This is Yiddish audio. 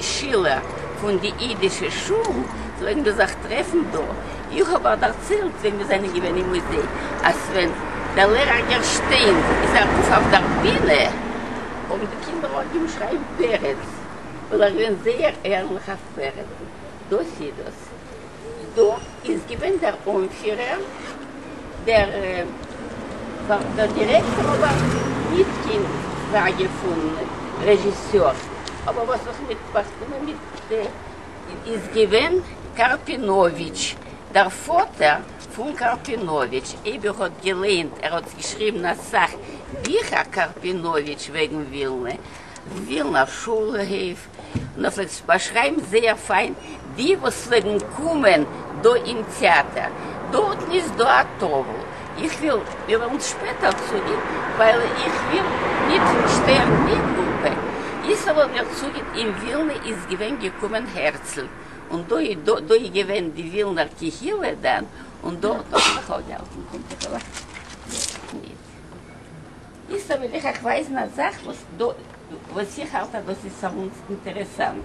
שילער פון די אידישע שול פלעגן מיר זיך טרעפן דא, איך האב אייך דערציילט ווען מיר זענען געווען אין מוזיי אז ווען דער לערער גערשטיין איז ארויף אויף דער בינע האבן די קינדער אנגעהויבן שרייען פרץ ווייל ער איז געווען זייער ערליך אויף פרץ, דאס איז דאס. דא איז געווען דער אנפירער, דער דירעקטאר אבער ניט קיין פראגע פון רעזשיסור, אבער וואס איך מיט באקומען מיט איז געווען קארפינאוויטש, דער פאטער פון קארפינאוויטש, אייב איר האט געליינט, ער האט געשריבן אסאך ביכער קארפינאוויטש וועגן ווילנע, ווילנא שולע, העוו. און ער פלעגט באשרייבן זייער פיין די וואס פלעגן קומען דא אין טעאטער, דארטן איז דא א טאוול, איך וויל מיר וועלן שפעטער צוגיין ווייל איך וויל ניט שטערן די גרופע, איז ער וועל מיר צוגיין אין ווילנע איז געווען געקומען הערצל, און דא איז דא איז געווען די ווילנער קהילה דאן, און דארט האט מען זיך אויפגעהאלטן. קומט זיך ער אויף דארט ניט. איצט וועל איך אייך ווייזן א זאך וואס איך האלט אז דאס איז סאמוואנס אינטערעסאנט.